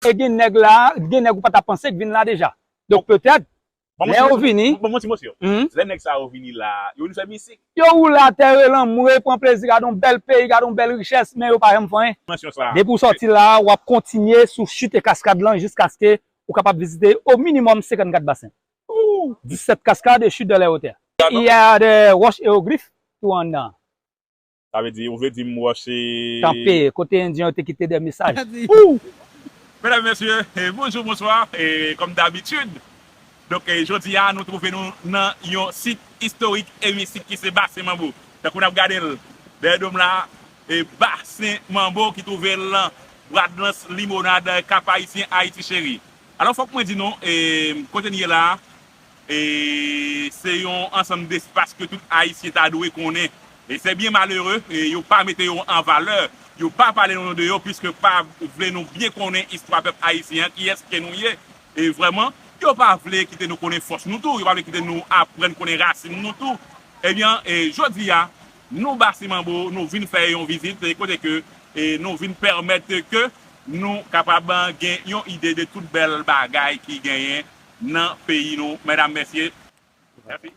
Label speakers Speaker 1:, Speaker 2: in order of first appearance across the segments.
Speaker 1: E gen nèg la, gen nèg ou pa ta panse k vin la deja. Donk petèt, lè yo vini. Ban mwen ti mo syon. Lè
Speaker 2: nèg sa yo vini la, yo vin fè misik? Yo woule atè,
Speaker 1: rele anmwe, pran plezi, gade yon bèl peyi, gade yon bèl richès, men yo pa janm fè anyen. Depi ou sòti
Speaker 2: la, w
Speaker 1: ap kontinye sou chit e kaskad lan jiskaske ou kapab vizite o minimòm 54 basen. 17 cascades et chutes de la hauteur. Il y a des roches hiéroglyphes tou anndan an. Sa vle di,
Speaker 2: ou vle dim Roch se. Kanpe, kote Endyen
Speaker 1: yo te kite dè mesaj. Ooh!
Speaker 2: Medam e mesye, bonjou, bonswa, kòm dabitid, donk jodi a nou twouve nou nan yon sit istorik e mistik ki se Basen Manbo. Tankou nap gade l dèyè do m la, Basen Manbo ki twouve l nan Bradlans Limonad, Kap Ayisyen, Ayiti Cheri. Alò fòk mwen di nou, kote n ye la, E se yon ansanm despas ke tout Ayisyen ta dwe konnen. E se byen malere, yo pa mete yo an valè, yo pa pale nou de yo, piske pa vle nou byen konnen istwa pèp Ayisyen an, kiyès ke nou ye vrèman. Yo pa vle kite nou konnen fòs nou tou, yo pa vle kite nou aprann konnen rasin nou tou. Ebyen, jodi a, nou Basi Manbo, nou vin fè yon vizit, kote ke nou vin pèmèt ke nou kapab gen yon ide de tout bèl bagay ki genyen. nan peyi nou medam mesye.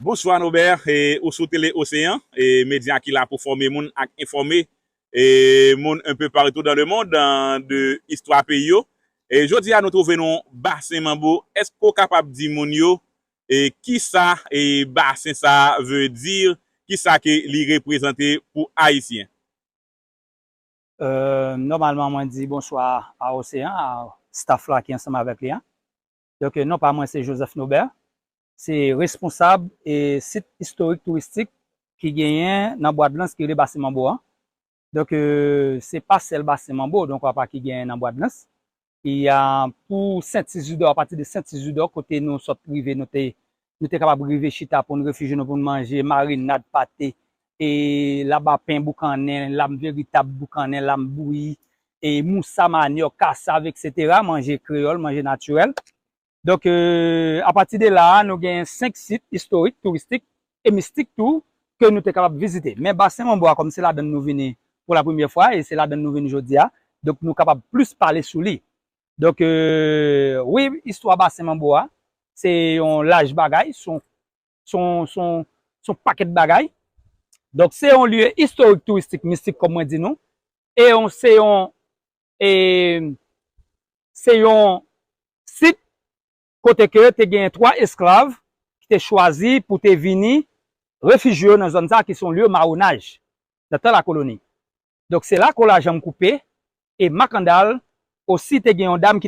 Speaker 2: Bonswa Nobert, ou sou Tele Oseyan, medya ki la pou fòme moun ak enfòme moun un peu partout dans le monde de istwa peyi yo. Jodi a nou trouve nou Basen Manbo, èske ou kapab di moun yo kisa Basen sa veut dire, kisa ke li reprezante pou Ayisyen?
Speaker 1: Nòmalman mwen di bonswa a Oseyan, a staff la ki ansanm avèk li a. Donk non pa mwen se Joseph Nobert, se responsab sit istorik touristik ki genyen nan Bwadlans ki rele Basen Manbo an. Donk se pa sèl Basen Manbo donk apa ki genyen nan Bwadlans. Pou Sent Izidò, apati de Sent Izidò kote nou sot rive nou te Nou te kapab rive chita pou n refije nou pou n manje marinad pate, laba pen boukannen, lam veritab boukannen, lam bouyi, moussa manyòk, kasav, eksetera, manje kreyòl, manje natirèl. Donk, apati de la a, nou genyen 5 sit istorik, touristik e mistik tou ke nou te kapab vizite. Men Basen Manbo a, kòm se ladann nou vini pou la premyè fwa e se ladann nou vini jodi a, donk nou kapab plis pale sou li. Donk wi istwa basen manbo a se yon laj bagay, son pakèt bagay. Donk se yon lye istorik touristik mistik kòm mwen di nou. E yon se yon e se yon sit kote ke te gen 3 esklav ki te chwazi pou te vini refijye yo nan zòn sa ki son lye mawonaj nan tan lakoloni. Donk se la kolaj an m koupe e Makandal osi te gen yon dam ki.